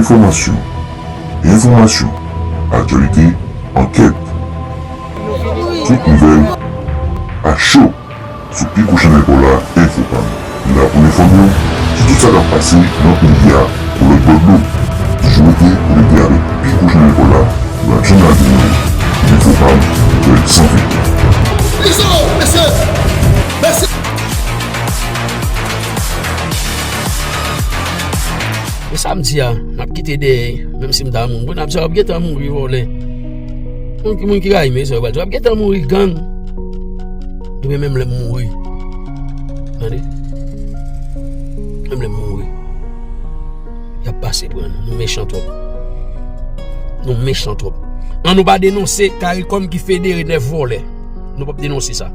Enfòmasyon Enfòmasyon Aktyalite Ankèt Tout nouvèl A cho sou pi gwo chanèl paw la Enfopam Nou la pou n enfòme w sou tout sa k ap pase nan peyi a kou lòt bò dlo Toujou rete konekte avèk pi gwo chanèl paw la Nou ap janm la pou nou Enfopam Nouvèl san filtè. E sa m di a, n ap kite dèyè, menm si m ta moun, bon n ap di w ap gen tan mouri vòlè. Moun ki moun ki rayi m e sa yo pral di, w ap gen tan mouri gang. Ebyen menm lè m mouri, tande, menm lè m mouri, y ap pase pran nou, nou mechan twòp. Nou mechan twòp. An nou pa denonse karikom ki federe 9 vòlè. Nou pa p denonse sa.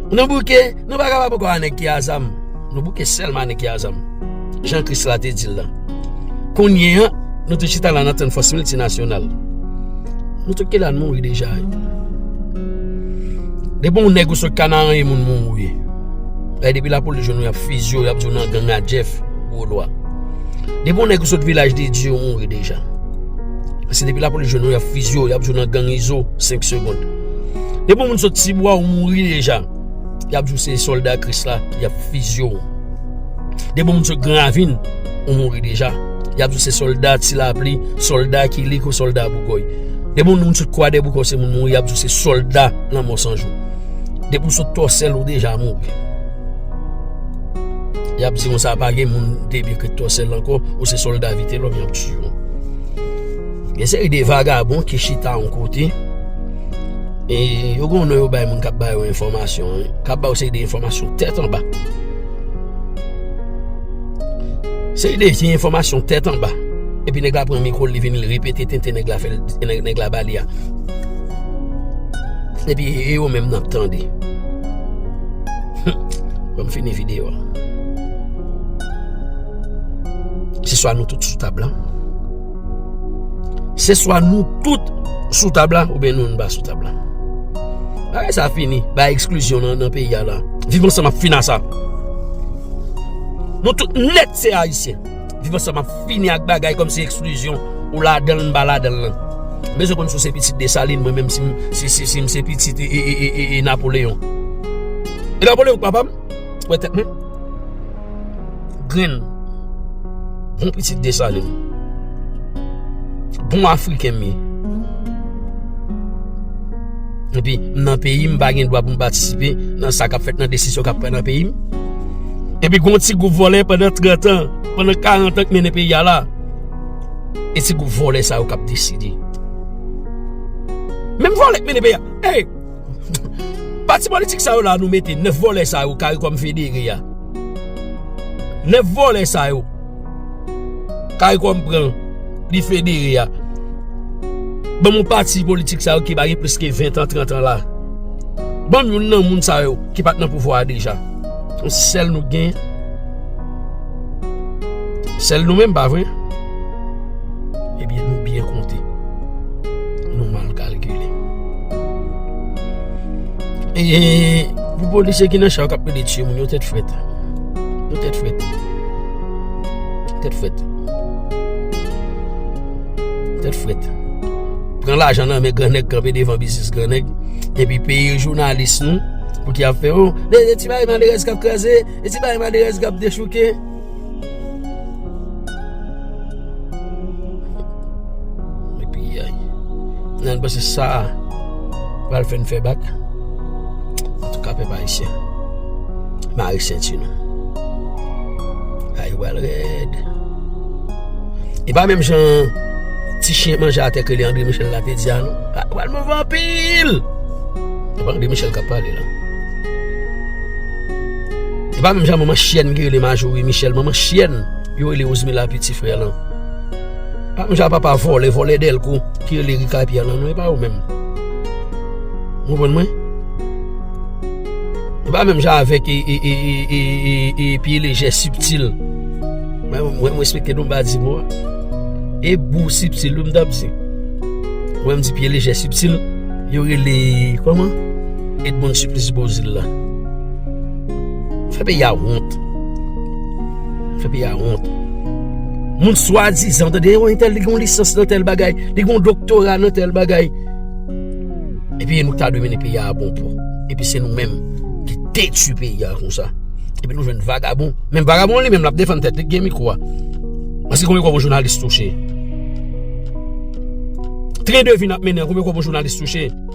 Nan bouke. Nou pa kapab ankò a nèg ki a zam, nou bouke sèlman a nèg ki a zam, jan Kris la te di l lan. Kounye an, nou tout chita la n ap tann fòs miltinasyonal. Nou tout ki la n mouri deja. Depi yon nèg ou sot Kanaran e moun moun ou ye. E depi lapolis jwenn ou y ap fiziye ou, y ap di w nan gang a Jeff gwo lwa. Depi yon nèg ou sot Vilaj de Dye ou mouri deja. Se depi lapolis jwenn ou y ap fiziye ou, y ap di w nan gang Izo 5 segond. Depi yon moun sot Tibwa ou mouri deja. Y ap di w se sòlda Kris la, y ap fizye w. Gen moun se gran ravin ou mouri deja. Y ap di w se sòlda ti lapli, sòlda kilik ou sòlda boukòy. Gen moun moun sot kwadèboukò se moun mouri y ap di w se sòlda lanmò san jou. Depi w sot tòsèl ou deja mouri. Y ap di w sa pa gen moun depi ki tòsèl ankò ou se sòlda vitelòm y ap tiye w. Gen seri de vagabon ki chita yon kote. E yo gen yon non yo bay moun k ap ba yo enfòmasyon an, k ap ba yo seri de enfòmasyon tèt anba. Seri de vye enfòmasyon tèt anba. Epi nèg la pran mikwo l, li vin repete tenten nèg la fè l, nèg la ba li a. Epi e yo menm nan ap tande. Fò m fini videyo a. Se swa nou tout sou tab la. Se swa nou tout sou tab la ou ben nou anba sou tab la. Bagay sa fini, bagay ekskluzyon nan peyi a la. Viv ansanm ap fini ak sa. Nou tout nèt se ayisyen. Viv ansanm ap fini ak bagay kòm se ekskluzyon ou la dan l anba la dan l lan. M bezwen konn si w se pitit Desalin mwen menm si m se pitit e Napoléon. E Napoléon k papa m? Wè tèt mwen. Grenn. Bon pitit Desalin. Bon Afriken m ye. Epi m nan peyi m pa gen dwa pou m patisipe nan sa k ap fèt nan desizyon k ap pran nan peyi m. Epi gen yon ti gwoup vòlè pandan 30 an, pandan 40 an k mennen peyi a la. E ti gwoup vòlè sa yo k ap deside. Menm vòlè k mennen peyi a. Ey! Pati politik sa yo la nou mete 9 vòlè sa yo karikom federe ya 9 vòlè sa yo karikom pran li federe ya ban mou pati politik sa yo ki bagen plis ke 20 an 30 an la ban mou nan moun sa yo ki pat nan pouvwa deja ou sel nou gen sel nou men pa vre ebyen nou byen konte Nou mal kalkile. E pou polisye ki nan chak ap pede tye moun yo tèt fwèt. Yo tèt fwèt. Tèt fwèt. Tèt fwèt. Pren la jan nan men grenèk kanpe devan bizis grenèk. E pi peye jounalis nou pou ki ap fè ou. E ti bay malerèz kap kreze. E ti bay malerèz kap dechouke. Nan bese sa Pral fè n fè bak Antou ka pe pa isye Mari senti nou Ay wèl rèd E pa menm jan Ti chien manje a te ke li André Michel la te di a nou Wèl mou vanpil E pa André Michel kap pale la E pa menm jan manman chyèn ki rele Majorie Michel, manman chyèn yo rele Rosmila piti frè lan. E pa menm jan papa vòlè, vòlè dèlko ki rele Ricard Pierre lan non, e pa yo menm. Ou konprann mwen? E pa menm jan avèk e, e, e, e, e, e, e, piye lejè siptil. Mwen, mwen respekte nou pa di mo a. E bou siptil yo m t ap di. Mwen m di piye lejè siptil, yo rele, kòman? Edmond Supplice Beauzile la Fè peyi a wont Fè peyi a wont Moun swadizan Tande yon entèl li gon lisans nan tèl bagay Li gon doktora nan tèl bagay Epi nou ta dwe mennen peyi a a bon pò Epi se nou menm ki detui peyi a konsa Epi nou jwenn vagabon Menm vagabon li menm l ap defann tèt li k gen mikwo a Mwen se konbyen kob yon jounalis touche Tren de vi n ap mennen an konbyen kob yon jounalis touche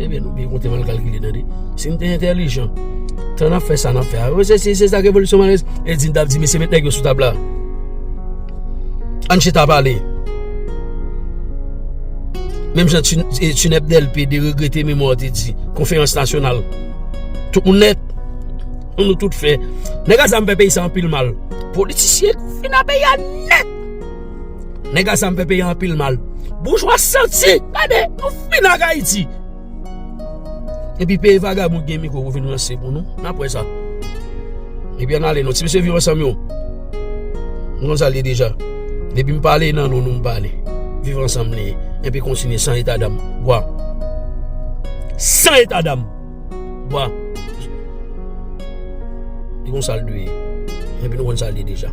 Ebyen nou byen konte mal kalkile tande. Si nou te entelijan, tan nan fè sa nan fè a. Ou se si se sa revolisyon malèz, e di nou tap di mesye met nèg yo sou tab la. Ann chita pale. Menm jan Tineb Delpe de regrete memwa ou te di, konferans nasyonal. Tout moun net, nou tout fè. Nèg a zam fè peyi sa anpil mal. Politisyen kou fina peyi a net. Nega sa m fè peyi anpil mal. Boujwa santi! Gade, nou fin ak Ayiti! Epi peye vagabon ki gen mikwo pou vin ranse pou nou. N ap wè sa. Epi an n ale nou. Ti mesye viv ansanm yo. Nou konn sa l ye deja. Depi m pale nan nou, nou m pale. Viv ansanm li ye. Epi kontinye san eta dam. Bwa. San eta dam! Bon. Li konn sa l dwe ye. Epi nou konn sa l ye deja.